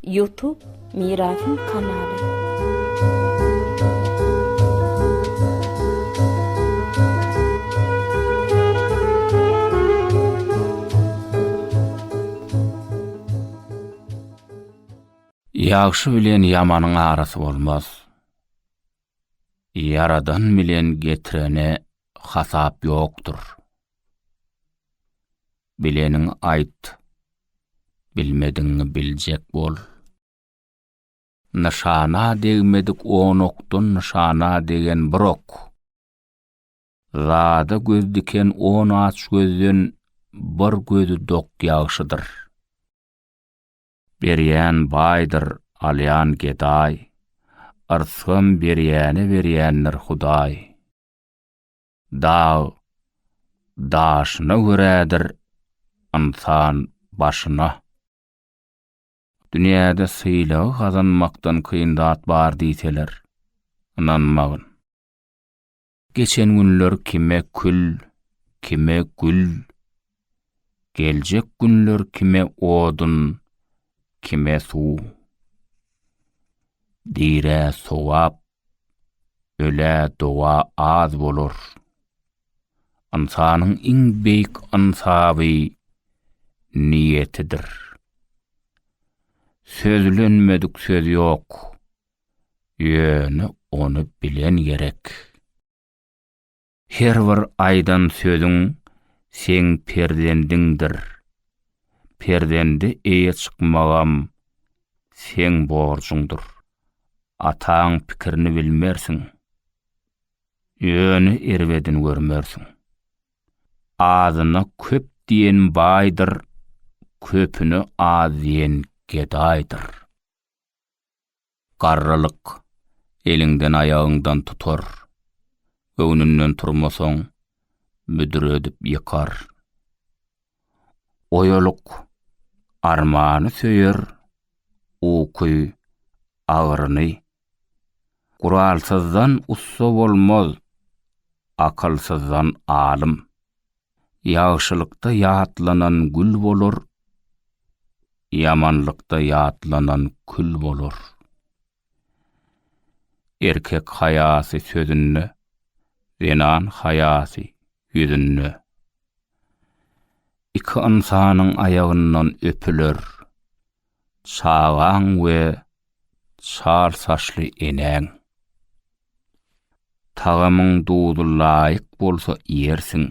Youtube Mirasym kanaly. Ýagşy bilen ýamanyň arasy bolmaz. Ýaradan bilen getirene hasap ýokdur. Bileniňi aýt, bilmedigiňi biljek bol. Nyşana degmedik on okdan nyşana degen bir ok. Zada göz diken on aç gözden bir gözi dok ýagşydyr. Berýän baýdyr, alýan gedaý. Yrsgam berýäne berýändir Hudaý. Dag daşyna görädir ynsan başyna. Dünýäde sylagy gazanmakdan kyn zat bar diýseler, ynanmagyn. Geçen günler kime kül, kime gül, geljek günler kime odun, kime suw. Dirä sogap, Ölä doga az bolar. Ynsanyň iň beýik ynsaby niýetidir. Sözlenmedik söz ýok. Ýöne ony bilen gerek. Her bir aýdan sözüň seň perzendiňdir. Perzende eýe çykmagam seň borjuňdyr. Ataň pikirini bilmersiň. Ýöne erbedini görmersiň. Azyna köp diýen baýdyr, köpüne az diýen gedaýdyr. Garrylyk, eliňden-aýagyňdan tutar, Göwnünden turmasaň, büdredip ýykar. Oýalyk, armany söýer, Uky, agyryny. Guralsyzdan ussa bolmaz, Akylsyzdan alym. Ýagşylykda ýatlanan gül bolar, Ýamanlykda ýatlanan kül bolar. Erkek haýasy sözünde, Zenan haýasy ýüzünde. Iki ynsanyň aýagyndan öpüler. çagaň we çar saçly enäň. Tagamyň duzy laýyk bolsa iýersiň.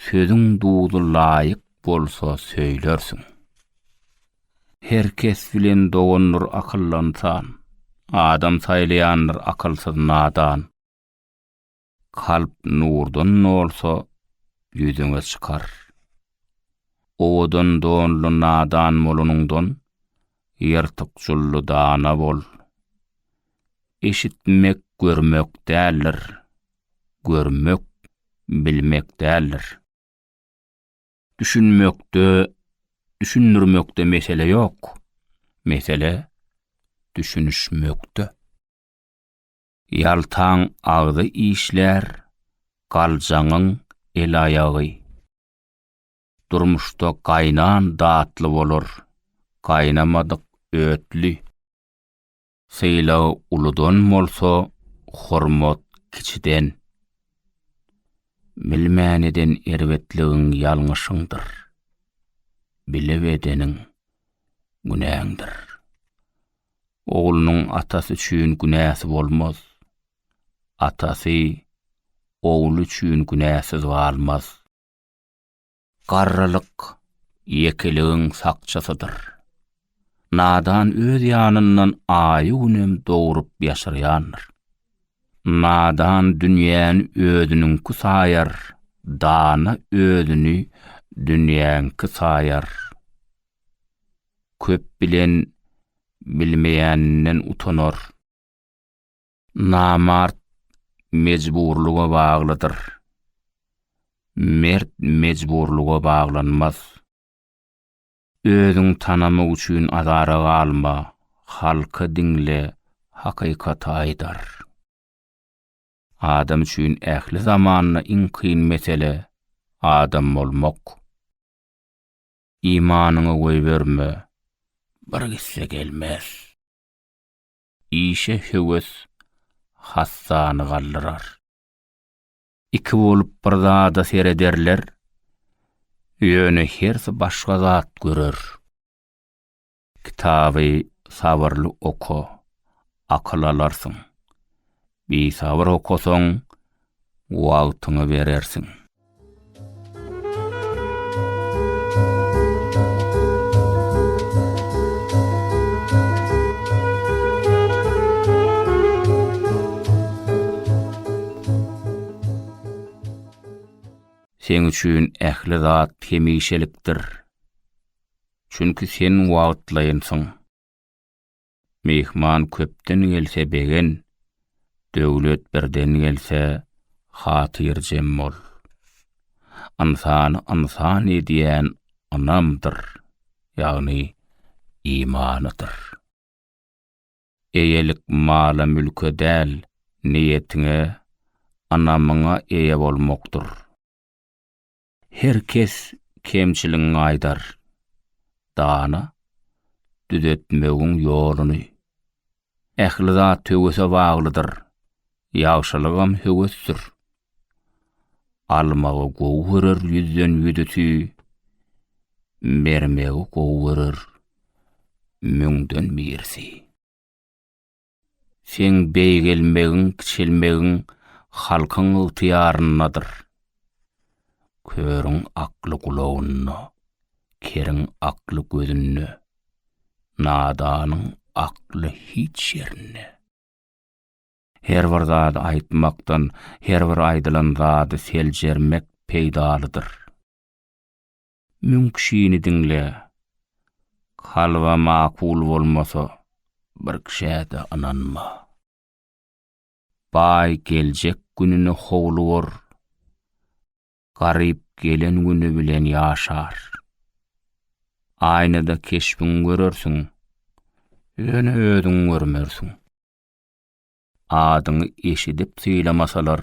Sözüň duzy laýyk bolsa söýlersiň. Her kes bilen dogandyr akyllansan, adam saýlaýandyr akylsyz nadan. Kalp nurdan dolsa, ýüzüňe çykar. Owadan donly nadan bolanyňdan, ýyrtyk jully dana bol. Eşitmek görmek däldir, görmek bilmek däldir. Düşünmekde, düşündirmekde mesele ýok, mesele düşünişmekde. Ýaltaň agzy işlär, galjaňyň el-aýagy. Durmuşda gaýnan datly bolar, gaýnamadyk ötli. Sylag uludan bolsa, hormat kiçiden. Bilmän eden erbetligiň ýalňyşyňdyr. Bilip edeniň günäňdir. Oglunyň atasy üçin günäsi bolmaz. Atasy ogly üçin günäsiz galmaz. Garrylyk ýekeligiň sakçysydyr. Nadan öz ýanyndan aýy-günem dogrup ýaşyrýandyr. Nadan dünýäni özüniňki saýar, dana özüni dünýäňki saýar. köp bilen bilmeýäninden utanar. Namart mejburlyga baglydyr. Mert mejburlyga baglanmaz. Özüň tanamak üçin azara galma, halky diňle, hakykaty aýdar. Adam üçin ähli zamanda iň kyn mesele, adam bolmak. Imanyňy goýberme, bir gitse gelmez. Işe höwes hassany galdyrar. Iki bolup bir zada serederler, ýöne hersi başga zat görer. Kitaby sabyrly oka, akyl alarsyň. Bisabyr okasaň, wagtyňy berersiň. Seň üçin ähli zat hemişelikdir. Çünki sen wagtlaýynsyň. Myhman köpden gelse begen, döwlet birden gelse hatyrjem bol. Ynsany ynsan edýän ynamdyr, ýagny imanydyr. Eýelik mala-mülke däl, niýetiňe, ynamyňa eýe bolmakdyr. Her kes kemçiligiňi aýdar. Dana, düzetmegiň ýoluny. Ähli zat höwese baglydyr. Ýagşylygam höwesdir. Almagy gowy görer ýüzden ýüdüti, bermegi gowy görer müňden birisi. Seň beýgelmegiň, kiçelmegiň halkyň ygtyýaryndadyr. Körüň akly gulagynda, keriň akly gözünde, nadanyň akly hiç ýerinde. Her bir zady aýtmakdan, her bir aýdylan zady seljermek peýdalydyr. Müň kişini diňle, kalba makul bolmasa, bir kişä-de ynanma. Baý geljek gününe howlugar, garyp gelen güni bilen ýaşar. Aýnada keşbiňi görersiň, ýöne özüňi görmersiň. Adyňy eşidip sylamasalar,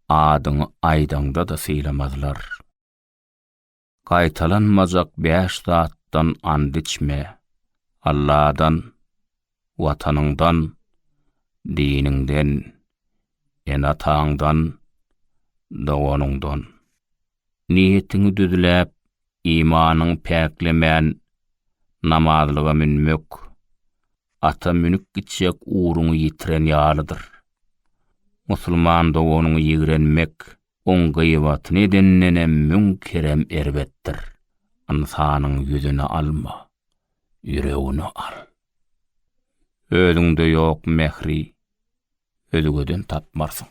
adyňy aýdaňda-da sylamazlar. Gaýtalanmajak bäş zatdan and içme, Alladan, Watanyňdan, diniňden, ene-ataňdan, doganyňdan. Niýetiňi düzläp, imanyňy päklemän, namazlyga münmek, ata münüp gitjek ugruňy ýitiren ýalydyr. Musulman doganyňy ýigrenmek, Oň gyýbatyny edendenem müň kerem erbetdir. Ynsanyň ýüzüni alma, ýüregini al. Özüňde ýok mähri, özgeden tapmarsyň.